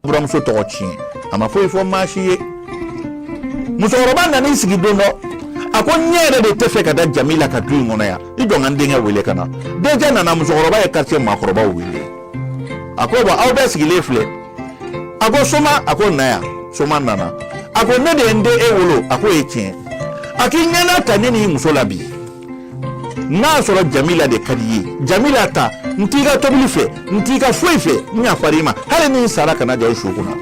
buranmuso tɔgɔ tiɲɛ a ma foyi fɔ maa si ye musokɔrɔba nana i sigi don dɔ a ko ne yɛrɛ de tɛ fɛ ka da jamila ka du in kɔnɔ yan i jɔ n ka n denkɛ wele ka na denkɛ nana musokɔrɔba ye quartier maakɔrɔbaw wele a ko bɔn aw bɛɛ sigilen filɛ a ko soma a ko na yan soma nana a ko ne de ye n den e wolo a k'o ye tiɲɛ a k'i ɲɛna ta ne n'i muso la bi n'a y'a sɔrɔ jamila de ka di ye jamila ta n t'i ka tobili fɛ n t'i ka foyi fɛ n yafara i ma hali ni n sara kana jɔ n su kunna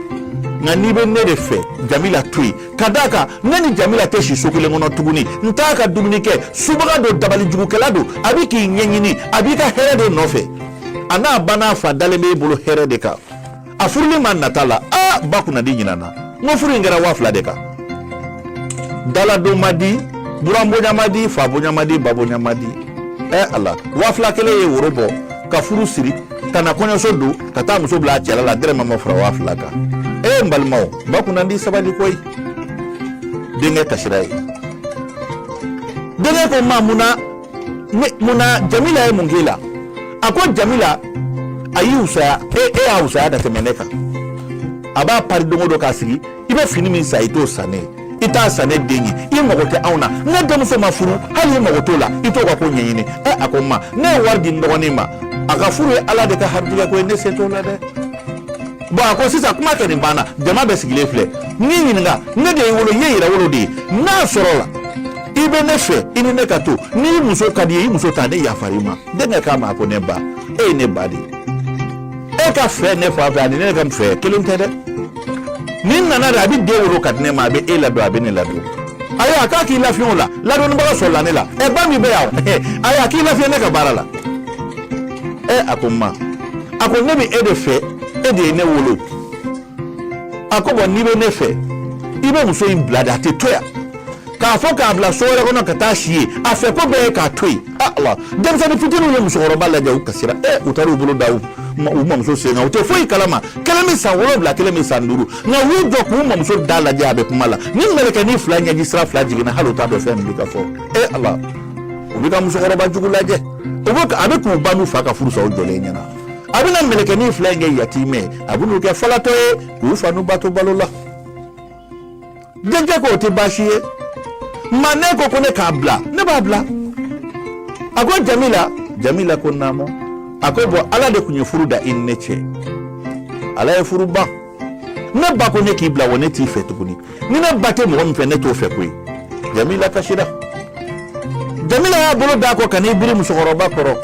nka n'i bɛ ne de fɛ jamila to yen ka d'a kan ne ni jamila tɛ si so kelen kɔnɔ tuguni n t'a ka dumuni kɛ subaga don dabali jugukɛla don a bɛ k'i ɲɛɲini a b'i ka hɛrɛ de nɔfɛ a n'a ba n'a fa dalen b'e bolo hɛrɛ de kan a furuli ma nata la a ba kunnandi ɲinana n ko furu in kɛra waa fila de kan daladon ma di buran bonya ma di fa bonya ma di ba bonya ma di ɛ ala waa fila kelen ye woro bɔ ka furu siri ka na kɔɲɔso don ka taa muso bila a cɛla la dɔrɔmɛ ma fara waa fila kan e n balimaw ba kunnandi sabali koyi denkɛ kasira ye denkɛ ko ma mun na ne mun na jamila ye mun k'i la a ko jamila a y'i wusaya e y'a wusaya ka tɛmɛ ne kan a b'a pari don o don k'a sigi i bɛ fini min san i t'o san ne ye i t'a san ne den ye i mago tɛ anw na ne denmuso ma furu hali i mago t'o la i t'o ka ko ɲɛɲini ɛ a ko ma ne ye wari di n dɔgɔnin ma a ka furu ye ala de ka harijigɛ ko ye ne se t'o la dɛ bɔn a ko sisan kuma kɛ nin banna jama bɛɛ sigilen filɛ n'i ɲininka ne de y'i wolo i ye yɛrɛwolo de ye n'a sɔrɔla i bɛ ne fɛ i ni ne ka to n'i muso ka di ye i muso ta ne yafara i ma denkɛ k'a ma ko ne ba e ye ne ba de ye e ka fɛ ne fa fɛ ani ne ka fɛ kelen tɛ dɛ ni nana de a bɛ den wolo ka di ne ma a bɛ e ladon a bɛ ne ladon ayiwa a k'a k'i lafiɲɛ o la ladonnibaga sɔrɔla ne la ɛ ba min bɛ yan ayiwa a k'i lafiɲɛ ne ka baara la ɛ a ko n ma a ko ne bɛ e de fɛ e de ye ne wolo a ko bɔn n'i bɛ ne fɛ i bɛ muso in bila de a tɛ to yan k'a fɔ k'a bila so wɛrɛ kɔnɔ ka taa si yen a fɛ ko bɛɛ ye k'a to yen a ala denmisɛnnin fitininw ye musokɔrɔba lajɛ u kasira ɛ u taara u bolo da u u mamuso sen kan u tɛ foyi kalama kelen bɛ san wolonwula kelen bɛ san duuru nka u y'u jɔ k'u mamuso da lajɛ a bɛ kuma la ni mɛlɛkɛnin fila ɲɛji sira fila jiginna hali u t'a dɔn fɛn min bɛ ka fɔ ɛ ala u bɛ ka musokɔrɔba jugu lajɛ u bɛ a bɛ k'u ba n'u fa ka furu sa u jɔlen ɲɛna a bɛna mɛlɛkɛnin fila in kɛ yatimɛ a bɛn'u kɛ falatɔ ye k'u fa n'u ba to balo la denkɛ ko o tɛ baasi ye ma n'e ko ko ne k'a bila ne b'a bila a ko jamila jamila ko naamu a ko bɔn ala de tun ye furu da i ni ne cɛ ala ye furu ban ne ba ko ne k'i bila wa ne t'i fɛ tuguni ni ne ba tɛ mɔgɔ min fɛ ne t'o fɛ koyi jamila kasira jamila y'a bolo d'a kɔ ka n'i biri musokɔrɔba kɔrɔ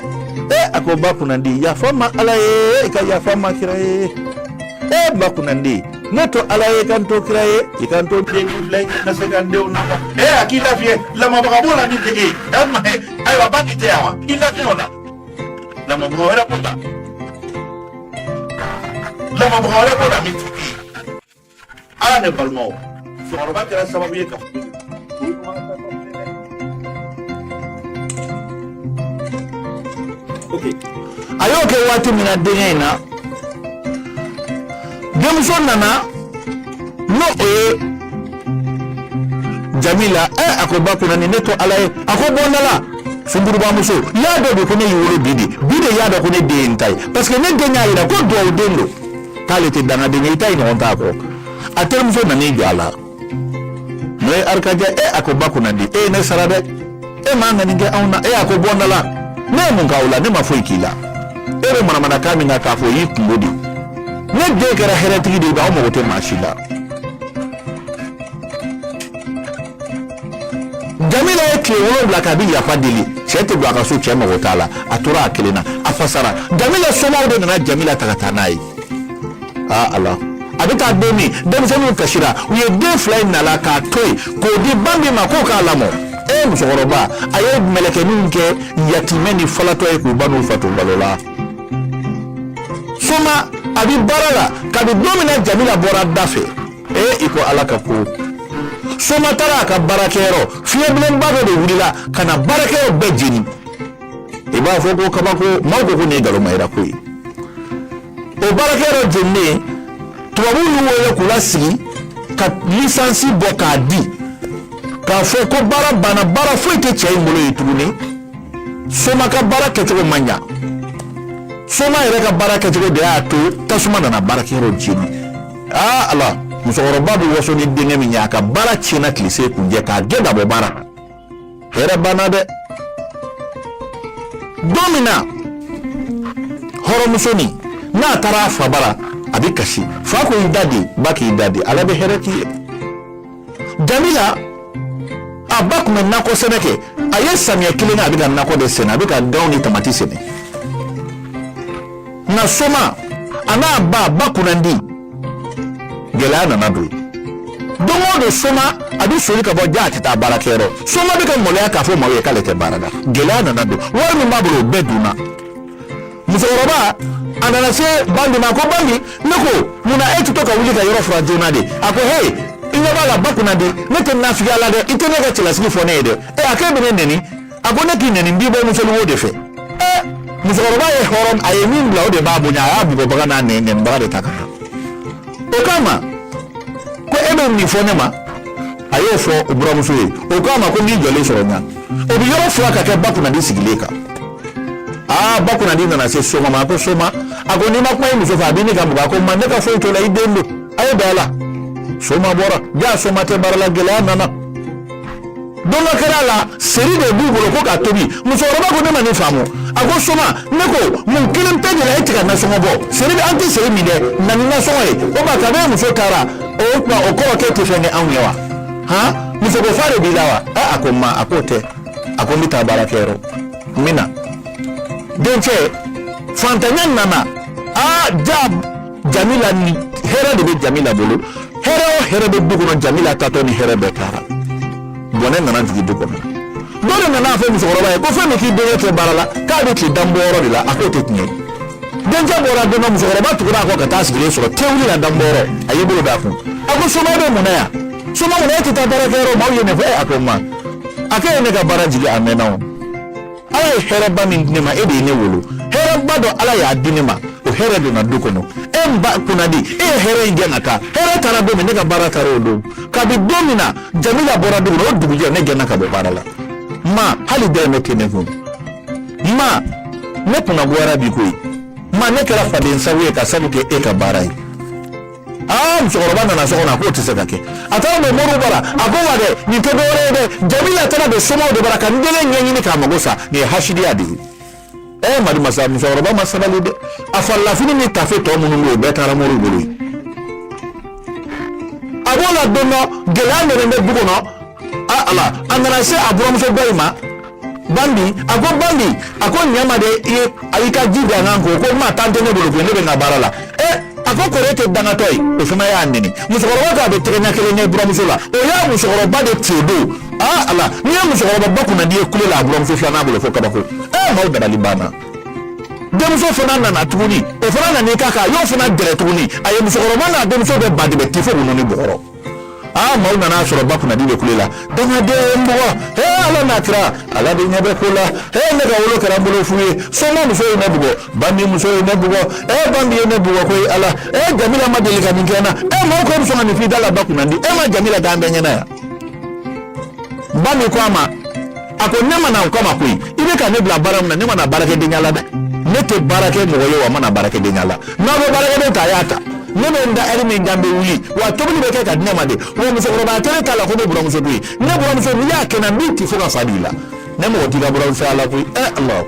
e a ko ba kunnandi yafa n ma ala ye i ka yafa n ma kira ye e ba kunnandi ne to ala ye ka n to kira ye i ka n to den fila na se ka denw na e a k'i lafiya lamɔbaga b'o la ni dege ayiwa ba k'i tɛ yan wa i lafiya o la lamɔbaga wɛrɛ b'o la Lamɔbaga wɛrɛ b'o la min tɛ ala ne balimaw musokɔrɔba kɛra sababu ye ka a y'o kɛ waati min na denkɛ in na denmuso nana n'o o ye jamila ɛ a ko ba kunnandi ne to ala ye a ko bɔ n da la sungurunbamuso y'a dɔn de ko ne y'i wolo bi de bi de y'a dɔn ko ne den ye n ta ye parce que ne den y'a yira ko duwawu den don k'ale tɛ dangaden ye i ta ye ɲɔgɔn t'a kɔ a terimuso nan'i jɔ a la n'o ye arikajɛ ɛ a ko ba kunnandi e ye ne sara dɛ e m'a ŋani kɛ anw na e a ko bɔ n da la ne ye mun k'aw la ne ma foyi k'i la e bɛ manamanakan min na k'a fɔ o y'i kunko de ne den kɛra hɛrɛtigi de ye anw mago tɛ maa si la jamila ye tile wolonwula k'a bɛ yafa deli cɛ tɛ don a ka so cɛ mago t'a la a tora a kelen na a fasara jamila somaaw de nana jamila ta ka taa n'a ye aa ala a bɛ taa don min denmisɛnninw kasira u ye den fila in nala k'a to yen k'o di ba min ma k'o k'a lamɔ e musokɔrɔba a ye mɛlɛkɛninw kɛ yatimɛ ni falatɔ ye k'u ba n'u fa to balo la soma a bɛ baara la kabi don min na jamila bɔra da fɛ ee i ko ala ka ko soma taara a ka baarakɛyɔrɔ fiɲɛbilenba dɔ de wulila ka na baarakɛyɔrɔ bɛɛ jeni i b'a fɔ ko kabako maaw ko ko nin ye ngala mayira ko ye o baarakɛyɔrɔ jeninen tubabu y'u wele k'u lasigi ka lisansi bɔ k'a di k'a fɔ ko baara banna baara foyi tɛ cɛ in bolo ye tuguni soma ka baara kɛcogo ma ɲa soma yɛrɛ ka baara kɛcogo de y'a to tasuma nana baarakɛyɔrɔ jeni aa ala musokɔrɔba bɛ waso ni denkɛ min ye a ka baara tiɲɛna tilesekuncɛ k'a gɛn ka bɔ baara la Hɛrɛ banna dɛ don min na hɔrɔnmusonin n'a taara a fa bara a bɛ kasi fa ko i da de ba k'i da de ala bɛ hɛrɛ k'i ye jamila a ba tun bɛ nakɔ sɛnɛ kɛ a ye samiyɛ kelen kɛ a bɛ ka nakɔ de sɛnɛ a bɛ ka ganw ni tamati sɛnɛ nka soma a n'a ba ba kunnandi gɛlɛya nana don don o don soma a bɛ soli ka bɔ jaa a tɛ taa baarakɛyɔrɔ soma bɛ ka maloya k'a fɔ maaw ye k'ale tɛ baara la gɛlɛya nana don wari min b'a bolo o bɛɛ dunna musokɔrɔba a nana se bambi ma a ko bambi ne ko munna e tɛ to ka wuli ka yɔrɔ furan joona de a ko he i ɲɛ b'a la ba kunnadi ne tɛ nafigiya la dɛ i tɛ ne ka cɛlasigi fɔ ne ye dɛ ɛ a k'e bɛ ne nɛni a ko ne k'i nɛni n b'i bɔ musoluwo de fɛ ɛ musokɔrɔba ye hɔrɔn a ye min bila o de b'a bonya a y'a bugɔbaga n'a nɛnibaga de ta ka na o k'a ma ko e bɛ nin fɔ ne ma a y'o fɔ o buramuso ye o k'a ma ko n'i jɔlen sɔrɔ n na o bɛ yɔrɔ furan ka kɛ ba kunnadi sigilen kan aa ba kunnadi nana se soma ma a ko soma a ko n'i ma kuma i muso fɛ a bɛ ne ka mugan a ko ma ne ka foyi t'o la i den don a ye bɛn a la soma bɔra jaa soma tɛ baara la gɛlɛya nana don dɔ kɛra ala seri de b'u bolo ko k'a tobi musokɔrɔba ko ne ma nin faamu a ko soma ne ko mun kɛlen b'e de la e tɛ ka nasɔngɔ bɔ seri de an tɛ seri min dɛ na ni nasɔngɔ ye o ma kabi e muso taara o tuma o kɔrɔ k'e tɛ fɛn kɛ anw ye wa han musoko fa de b'i la wa ɛ a ko ma a k'o tɛ a ko n bɛ taa baarakɛyɔrɔ n bɛ na denkɛ fantanya nana aa ja Jamila ni hɛrɛ de bɛ jamila bolo hɛrɛ o hɛrɛ bɛ du kɔnɔ jamila taatɔ ni hɛrɛ bɛɛ taara bɔnɛ nana jigin du kɔnɔ dɔ de nana a fɔ musokɔrɔba ye ko fɛn min k'i denkɛ tɛ baara la k'a bɛ tilen dan bɔyɔrɔ de la a k'o tɛ tiɲɛ ye denkɛ bɔra don dɔ musokɔrɔba tugura a kɔ ka t'a sigilen sɔrɔ tewuli la dan bɔyɔrɔ a y'i bolo d'a kun a ko soma bɛ mun na yan soma mun na e tɛ taa baarakɛyɔrɔ maaw ye nin fɔ e a ko n ma a k'e ye ne ka baara jigin a mɛnna o ala ye hɛrɛba min di ne ma e de ye ne wolo hɛrɛba dɔ ala y'a di ne ma o hɛrɛ donna du kɔnɔ e n ba kunnadi e ye hɛrɛ in gɛn ka taa hɛrɛ taara don min ne ka baara taara o don kabi don min na jamila bɔra du kɔnɔ o dugujɛ ne gɛnna ka bɔ baara la ma hali dɔrɔmɛ tɛ ne kun ma ne kunna goyara bi koyi ma ne kɛra faden sago ye ka sabu kɛ e ka baara ye aa musokɔrɔba nana so kɔnɔ a k'o tɛ se ka kɛ a taara don moriw bara a ko wa dɛ nin tɛ dɔwɛrɛ ye dɛ jamila taara don somaw de bara ka n den de ɲɛɲini k'a mago sa nin ye hasidiya de ye ɛ eh, madi masa musokɔrɔba ma sabali dɛ a farilafini ni tafe tɔ minnu bɛ yen o bɛɛ taara moriw bolo yen a b'o la don dɔ gɛlɛya nana bɛ du kɔnɔ a ala a nana se a buramuso dɔ in ma bambi a ko bambi a ko ɲɛ n ma de ye a y'i ka ji d'an kan ko ko ma tan tɛ ne bolo ne bɛ n ka baara la ɛ eh, a ko kɔri e tɛ dangatɔ ye o fana y'a nɛni musokɔrɔba ko a bɛ tɛgɛ ɲɛ kelen ɲɛ buramuso la o ye musokɔrɔba de ci o don aa ala n'i ye musokɔrɔba ba kunnadi ye kule la a buramuso filanan bolo fo kabako ɛ eh, maaw dabali banna denmuso fana nana tuguni o fana nan'i k'a kan a y'o fana gɛrɛ tuguni a ye musokɔrɔba n'a denmuso bɛɛ badibɛ tifo ninnu ni bɔgɔrɔ aa maaw nana a sɔrɔ ba kunnandi bɛ kule la dangaden ye n bugɔ hee ala n'a kira ala de ɲɛ bɛ ko la hee ne ka wolo kɛra n bolo fu ye soma muso ye ne bugɔ bandi muso ye ne bugɔ ee bandi ye ne bugɔ koyi ala ee jamila ma deli ka nin kɛ n na ee maaw ko bɛ sɔn ka nin f'i da la ba kunnandi e ma jamila danga an bɛɛ ɲɛna yan bami ko a ma a ko ne ma na o kama koyi i bɛ ka ne bila baara min na ne ma na baarakɛdenya la dɛ ne tɛ baara kɛ mɔgɔ ye wa n ma na baarakɛdenya la n'aw bɛ baarakɛden ta a y'a ta ne bɛ n da ɛri min kan bɛ wuli wa tobili bɛ kɛ ka di ne ma de wa musokɔrɔba kelen t'a la ko ne buranmuso don e ne buranmuso n'i y'a kɛ ne b'i ti fo ka fa bil'i la ne mago t'i ka buranmusoya la koyi ɛ ala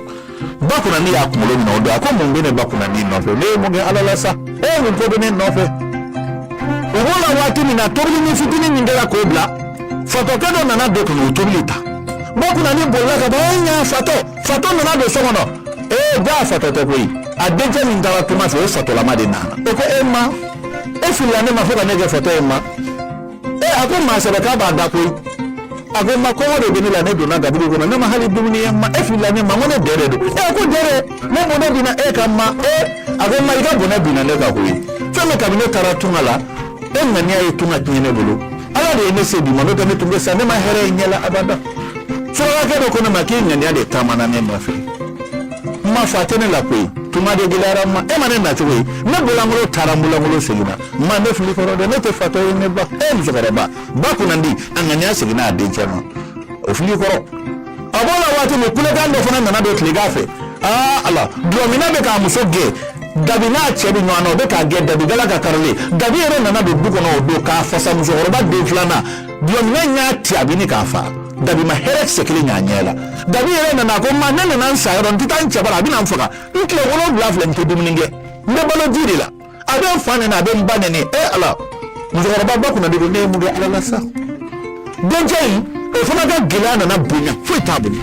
ba kunnandi y'a kunkolo minɛ o don a ko mun bɛ ne ba kunnandi nɔfɛ ne ye mun kɛ ala la sa ee mun ko bɛ ne nɔfɛ u b'o la waati min na tobilinin fitinin min kɛra k'o bila fatɔkɛ dɔ nana don ka n'o tobili ta ba kunnandi bolila ka bɔ e ɲa fatɔ fatɔ nana don so kɔnɔ ee jaa fatɔ tɛ koyi a dencɛ min taara tunga fɛ o fatɔlama de nana o ko ee ma e filila ne ma fo ka ne kɛ fatɔ ye ma ee a ko maa sɛbɛ k'a b'a da koyi a ko ma kɔngɔ de bɛ ne la ne donna gabugu kɔnɔ ne ma hali dumuni ye ma e filila ne ma ko ne dɛrɛ don ee ko dɛrɛ ne bɔnɛ binna e kan ma ee a ko ma i ka bɔnɛ binna ne kan koyi fɛn min kabini ne taara tunga la e ŋaniya ye tunga tiɲɛ ne bolo ala de ye ne se bi ma n'o tɛ ne tun bɛ sa ne ma hɛrɛ ye n ɲɛ la abada surakakɛ dɔ ko ne ma k'i ŋaniya de taamana ne nɔfɛ n ma fa tɛ ne la koyi tunga de gɛlɛyara n ma e ma ne nacogo ye ne bolankolo taara n bolankolo seginna ma ne fil'i kɔrɔ dɛ ne tɛ fatɔ ye ne ba ee musokɔrɔba ba kunnandi a ŋaniya seginn'a dencɛ ma o fili kɔrɔ a b'o la waati min kulekan dɔ fana nana don tilegan fɛ aa ala dulɔminna bɛ k'a muso gɛn dabi n'a cɛ bɛ ɲɔgɔn na o bɛ k'a gɛn dabi galaka karilen dabi yɛrɛ nana don du kɔnɔ o don k'a fasa musokɔrɔba den filanan dulɔminna in y'a ti a bɛ ɲini k'a faga dabi ma hɛrɛ kisɛ kelen y'a ɲɛ la dabi yɛrɛ nana a ko ma ne nana n sa yɔrɔ n tɛ taa n cɛ bara a bɛna n faga n tile wolonwula filɛ n tɛ dumuni kɛ n bɛ balo ji de la a bɛ n fa neni a bɛ n ba neni ee ala musokɔrɔba ba kunnandi ko ne ye mun kɛ ala la sa dencɛ in o fana ka gɛlɛya nana bonya foyi t'a bolo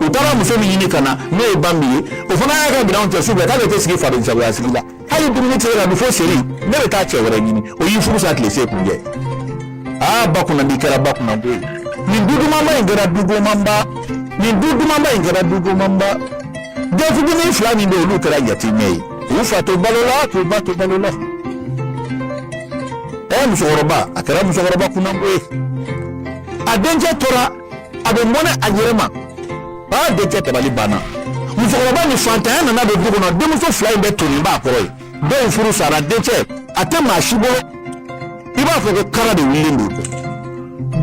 u taara muso min ɲini ka na n'o ye bami ye o fana y'a ka minɛnw cɛ su fɛ k'ale tɛ sigi faden jagoya sigi la hali dumuni tɛ se ka dun fo seri ne bɛ taa cɛ wɛrɛ ɲini o ye furu sa tile se kuncɛ aa ba kunnandi kɛra ba kunnango ye nin du dumanba in kɛra du gomanba nin du dumanba in kɛra du gomanba den fitinin fila min bɛ yen olu kɛra yatimɛ ye u fa to balo la k'u ba to balo la ɛ musokɔrɔba a kɛra musokɔrɔba kunnango ye a dencɛ tora a bɛ mɔnɛ a yɛrɛ ma aa dencɛ dabali banna musokɔrɔba ni faantanya nana don du kɔnɔ denmuso fila in bɛɛ tonnen b'a kɔrɔ yen denw furu sara dencɛ a tɛ maa si bolo i b'a fɔ ko kara de wulilen don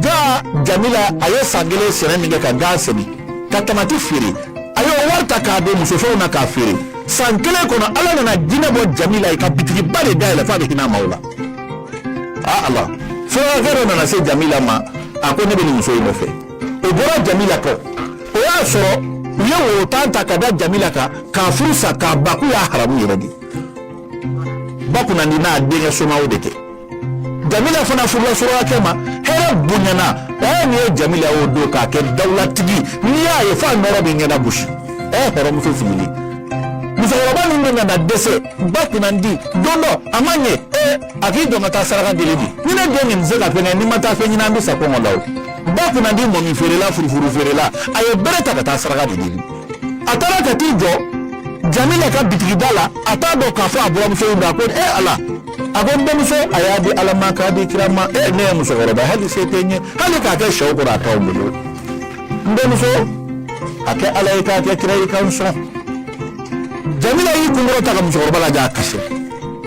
jaa jamila a ye san kelen sɛnɛ min kɛ ka gan sɛnɛ ka tamati feere a y'o wari ta k'a don musofɛnw na k'a feere san kelen kɔnɔ ala nana diɲɛ bɔ jamila ye ka bitigiba de dayɛlɛ f'a bɛ hinɛ maaw la a ala surakakɛ dɔ nana se jamila ma a ko ne bɛ nin muso in nɔfɛ o bɔra jamila kɔ o y'a sɔrɔ u ye worotan ta ka da jamila kan k'a furu sa k'a ba k'u y'a haramu yɛrɛ de ba kunnandi n'a denkɛ somaw de kɛ jamila fana furula surakakɛ ma hɛrɛ bonyana ɛɛ n'i ye jamila y'o don k'a kɛ dawulatigi n'i y'a ye f'a nɔɔrɔ b'i ɲɛda gosi ɛɛ hɔrɔnmuso sigilen musokɔrɔba min bɛ nana dɛsɛ ba kunnandi don dɔ a ma ɲɛ ee a k'i jɔ ka taa saraka deli dɛ ni ne den nin tɛ se ka fɛn kɛ ni n ma taa fɛn ɲini an bɛ sa kɔngɔ la o ba kunnandi mɔmi feerela furufuru feerela a ye bere ta ka taa saraka de deli a taara ka t'i jɔ jamila ka bitigida la a t'a dɔn k'a fɔ a buranmuso in ma a ko e ala a ko n denmuso a y'a di ala ma k'a di kira ma e ne ye musokɔrɔba hali se tɛ n ye hali k'a kɛ sɛw kɔrɔ a t'aw bolo n denmuso a kɛ ala ye k'a kɛ kira ye k'an sɔn jamila y'i kun kɔrɔta ka musokɔrɔba lajɛ a kasi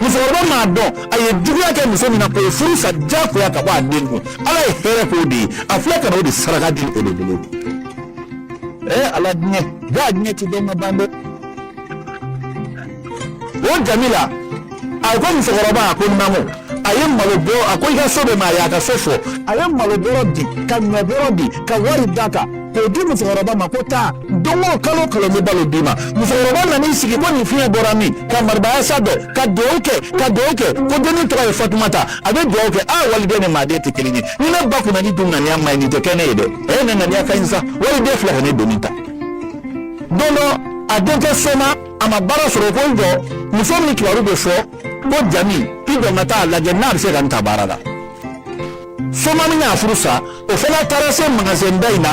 musokɔrɔba m'a dɔn a ye juguya kɛ muso min na k'o furu sa diyagoya ka bɔ a den kun ala ye hɛrɛ k'o de ye a filɛ ka na o de saraka deli o de bolo e ala diɲɛ jaa diɲɛ tɛ dɔn ka ban dɛ o jamila a ko musokɔrɔba a ko naamu a ye malo bɔ a ko i ka so bɛ min a ye a ka so fɔ a ye malo bɔrɔ di ka ɲɔ bɔrɔ di ka wari d'a kan k'o di musokɔrɔba ma ko taa don o kalo o kalo n bɛ balo d'i ma musokɔrɔba nan'i sigi ko nin fiɲɛ bɔra min ka maribayasa dɔn ka dugawu kɛ ka dugawu kɛ ko dennin tɔgɔ ye fatumata a bɛ dugawu kɛ a waliden ni maaden tɛ kelen ye ni ne ba kunnandi dun ŋaniya man ɲi nin tɛ kɛ ne ye dɛ ne ŋaniya ka ɲi sa waliden filɛ ka ne doni ta don dɔ a denkɛ soma a ma baara sɔrɔ ko n jɔ muso min kibaru bɛ fɔ ko jami i jɔ n ka taa a lajɛ n'a bɛ se ka n ta baara la soma min y'a furu sa o fana taara se magasɛnba in na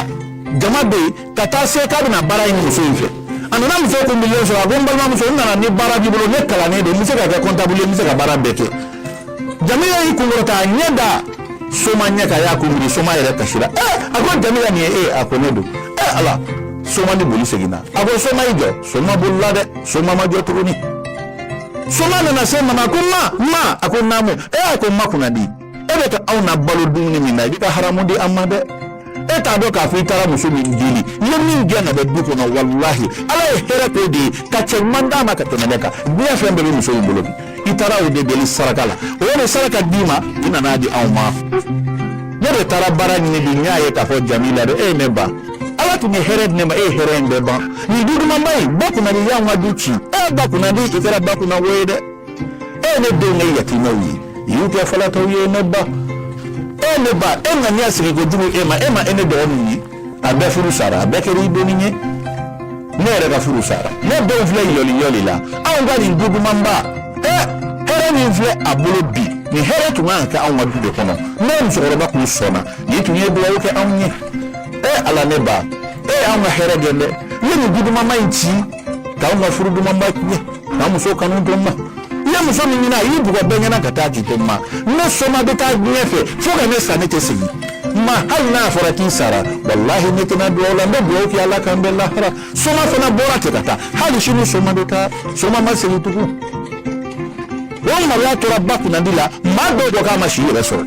jama bɛ yen ka taa se k'a bɛna baara ɲini muso in fɛ a nana muso kun birilen sɔrɔ a ko n balimamuso n nana ni baara b'i bolo ne kalannen don n bɛ se ka kɛ kɔntabulu ye n bɛ se ka baara bɛɛ kɛ jamila y'i kun kɔrɔta a ɲɛ da soma ɲɛ kan a y'a kun biri soma yɛrɛ kasira ɛ eh, a ko jamila nin ye e a ko ne don ɛ eh, ala soma ni boli seginna a ko soma i jɔ soma bolila dɛ soma ma jɔ tuguni soma nana se ma ma a ko ma ma a ko naamu ɛ eh, a ko ma kunnandi e bɛ ka anw nabalo dumuni min na i bɛ ka haramu di an ma dɛ e t'a dɔn k'a fɔ i taara muso min deli i ye min gɛn ka bɔ du kɔnɔ walahi ala ye hɛrɛ k'o de ye ka cɛ ɲuman d'a ma ka tɛmɛ ne kan diɲɛ fɛn bɛɛ bɛ muso in bolo bi i taara o de deli saraka la o de saraka d'i ma i nan'a di anw ma ne de taara baara ɲini bi n y'a ye k'a fɔ jamila dɛ e ye ne ban ala tun ye hɛrɛ di ne ma e ye hɛrɛ in bɛɛ ban nin du dumanba in ba kunnandi y'anw ka du ci e ba kunnandi i kɛra ba kunnango ye dɛ e ne denw ye yatimɛw ye i y'u kɛ falatɔw ye ne ba e ne ba e ŋaniya sigi ko jugu e ma e ma e ne dɔgɔninw ye a bɛɛ furu sara a bɛɛ kɛra i donni ye ne yɛrɛ ka furu sara ne denw filɛ yɔli yɔli la anw ka nin du dumanba ɛ hɛrɛ min filɛ a bolo bi nin hɛrɛ tun kan ka kɛ anw ka du de kɔnɔ ne musokɔrɔba kun sɔnna n'i tun ye dugawu kɛ anw ye ɛ ala ne ba e y'anw ka hɛrɛ gɛn dɛ i ye nin du dumanba in ci k'anw ka furu dumanba tiɲɛ ka n muso kanu to n ma i ye muso min ɲini a y'i bugɔ bɛɛ ɲɛna ka taa k'i to n ma ne soma bɛ taa diɲɛ fɛ fo ka ne sa ne tɛ segin ma hali n'a fɔra k'i sara walahi ne tɛ na dugawu la n bɛ dugawu kɛ ala k'an bɛn lahara soma fana bɔra ten ka taa hali sini soma bɛ taa soma ma segin tugun o maloya tora ba kunnandi la maa dɔw ko k'a ma si yɛrɛ sɔrɔ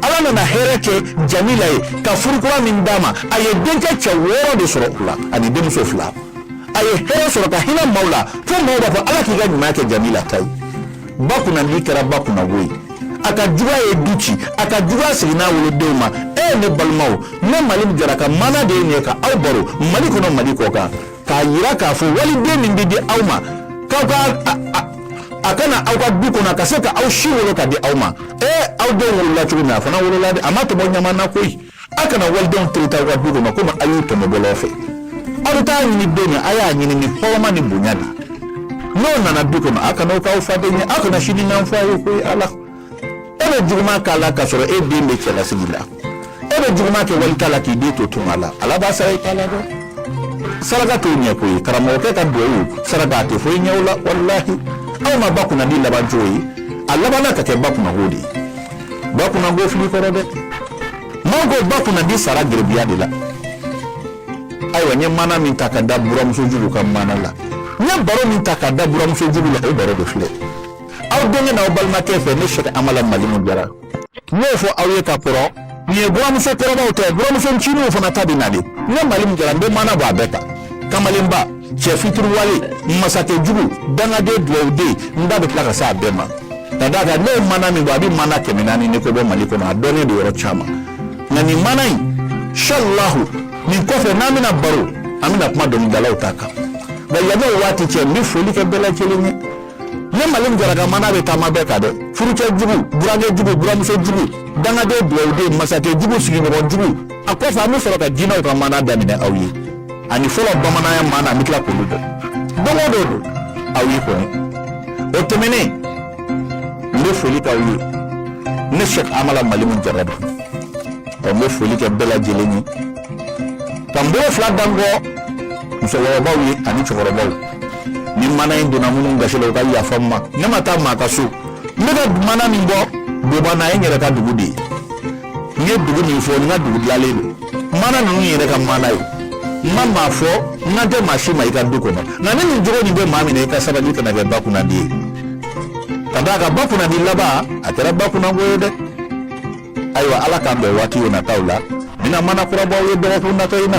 ala nana hɛrɛ kɛ jamila ye ka furukura min d'a ma a ye denkɛ cɛ wɔɔrɔ de sɔrɔ o la ani denmuso fila a ye hɛrɛ sɔrɔ ka hinɛ maaw la fo maaw b'a fɔ ala k'i ka ɲuman kɛ jamila ta ye ba kunnandi kɛra ba kunnango ye a ka juguya ye du ci a ka juguya seginna a wolodenw ma ɛɛ ne balimaw ne malimu jara ka mana de ye nin ye ka aw baro mali kɔnɔ mali kɔ kan k'a jira k'a fɔ waliden min bɛ di aw ma k'a ka na aw ka du kɔnɔ ka se ka aw si wolo ka di aw ma ee aw denw wolola cogo min a fana wolola dɛ a ma tɔmɔ ɲaman na koyi a kana walidenw tereta aw ka du kɔnɔ komi a y'u tɔmɔ bɔlɔn fɛ aw bɛ taa ɲini don min a y'a ɲini ni hɔrɔma ni bonya de n'o nana du kɔnɔ a kana o k'aw faden ye aw kana sini n'an fɔ a ye koyi ala e bɛ juguman k'a la k'a sɔrɔ e den bɛ cɛlasigi la e bɛ juguman kɛ wali ta la k'i den to tunga la ala b'a sara i ta la dɛ saraka t'o ɲɛ koyi karamɔgɔkɛ ka duwawu saraka a tɛ foyi ɲɛ o la walahi aw ma ba kunnandi laban cogo ye a labanna ka kɛ ba kunnango de ye ba kunnango fili kɔrɔ dɛ maaw ko ba kunnandi sara garibuya de la ayiwa n ye mana min ta ka da buramuso jugu ka mana la n ye baro min ta ka da buramuso jugu la o baro de filɛ aw denkɛ n'aw balimakɛ fɛ ne sɛk amala malimu jara n y'o fɔ aw ye ka kɔrɔ nin ye buramuso kɔrɔbaw ta ye buramuso ncininw fana ta bɛ na dɛ ne malimu jara n bɛ mana bɔ a bɛɛ kan kamalenba cɛ fitiriwale masakɛ jugu dangaden duwawuden n da bɛ tila ka se a bɛɛ ma ka d'a kan ne ye mana min bɔ a bɛ mana kɛmɛ naani ni kɔ bɔ mali kɔnɔ a dɔnnen don yɔrɔ caman nka nin mana insalahu nin kɔfɛ n'an bɛna baro an bɛna kuma dɔnkilidalaw ta kan nka yanni o waati cɛ n bɛ foli kɛ bɛɛ lajɛlen ye ne malimu jara ka mana bɛ taama bɛɛ kan dɛ furucɛ jugu burankɛ jugu buramuso jugu dangaden dugawuden masakɛ jugu sigiɲɔgɔn jugu a kɔfɛ an bɛ sɔrɔ ka jinɛw ka mana daminɛ aw ye ani fɔlɔ bamananya mana an bɛ tila k'olu dɔn don o don don aw ye kɔni o tɛmɛnen n bɛ foli k'aw ye ne sɛk amala malimu jara don ɔ n bɛ foli kɛ bɛɛ lajɛlen ye ka n bolo fila da n kɔ musokɔrɔbaw ye ani cɛkɔrɔbaw ni maana in donna minnu gasi la u ka yafa n ma ne ma taa maa ka so ne ka maana min bɔ boba na ye n yɛrɛ ka dugu de ye n ye dugu min fɔ n ka dugu dilanlen don maana ninnu ye n yɛrɛ ka maana ye n ma maa fɔ n kan tɛ maa si ma i ka du kɔnɔ nka ni nin jogo nin bɛ maa min na i ka sabali kana kɛ ba kunnadi ye ka d'a kan ba kunnadi laban a kɛra ba kunnago ye dɛ ayiwa ala k'an bɛn waati o nataw la n bɛna maana kura bɔ aw ye dɔgɔkun natɔ in na